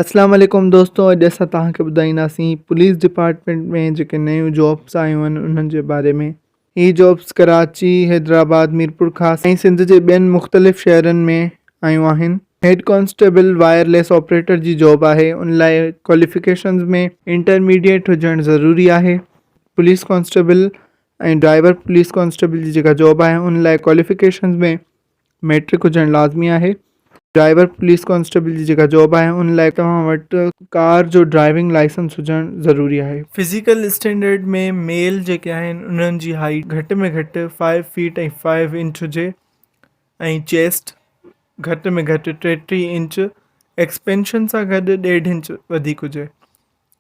اسلام عليڪم دوستو اڄ اسان توهان کي ٻڌائينداسين پوليس ڊپارٽمينٽ ۾ جيڪي نيون جابس آيون آهن انهن جي باري ۾ هي جابس ڪراچي، حيدرآباد، ميرپورخاص ۽ سنڌ جي ٻين مختلف شهرن ۾ آيون آهن. Head constable wireless operator جي جاب آهي ان لاء ڪواليفڪيشنز ۾ انٽرميڊيٽ هجڻ ضروري آهي. Police constable ۽ driver police constable جي جيڪا جاب آهي ان لاء ڪواليفڪيشنز ۾ ميٽرڪ هجڻ لازمي آهي. ڊرائيور پوليس ڪانسٽيبل جي جيڪا جاب آهي ان لاء توهان وٽ ڪار جو ڊرائيونگ لائسنس هجڻ ضروري آهي. فزيڪل اسٽينڊرڊ ۾ ميل جيڪي آهن انهن جي هائيٽ گهٽ ۾ گهٽ فائيو فيٽ ۽ فائيو انچ هجي ۽ چيسٽ گهٽ ۾ گهٽ ٽيٽيهه انچ ايڪسپينشن سان گڏ ڏيڍ انچ وڌيڪ هجي.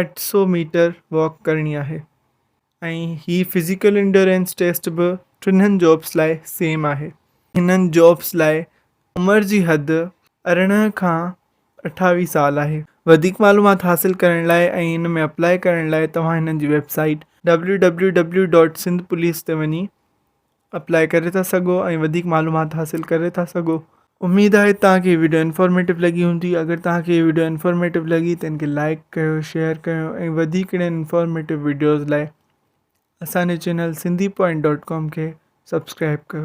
اٺ سؤ ميٽر واڪ ڪرڻي آهي ۽ هي فزيڪل انڊورينس ٽيسٽ به ٽنهن جابس لاء سيم آهي هنن جابس لاء عمر جي حد ارڙهن کان اٺاويهه سال آهي وڌيڪ معلومات حاصل ڪرڻ لاء ۽ ان ۾ اپلاء ڪرڻ لاء توهان هنن جي ويب سائيٽ www.sindhpolice تي وڃي اپلائي ڪري ٿا سگهو ۽ وڌيڪ معلومات حاصل ڪري ٿا سگهو. اميد آهي توهان کي هي وڊيو انفارميٽو لڳي هوندي اگر توهان کي هي وڊيو انفارميٽو لڳي ته هن کي لائيڪ ڪيو شيئر ڪيو ۽ وڌيڪ اهڙين انفارميٽو وڊيوز لاء اسان جي channel Sindhi point dot com کي سبسڪرائب ڪيو.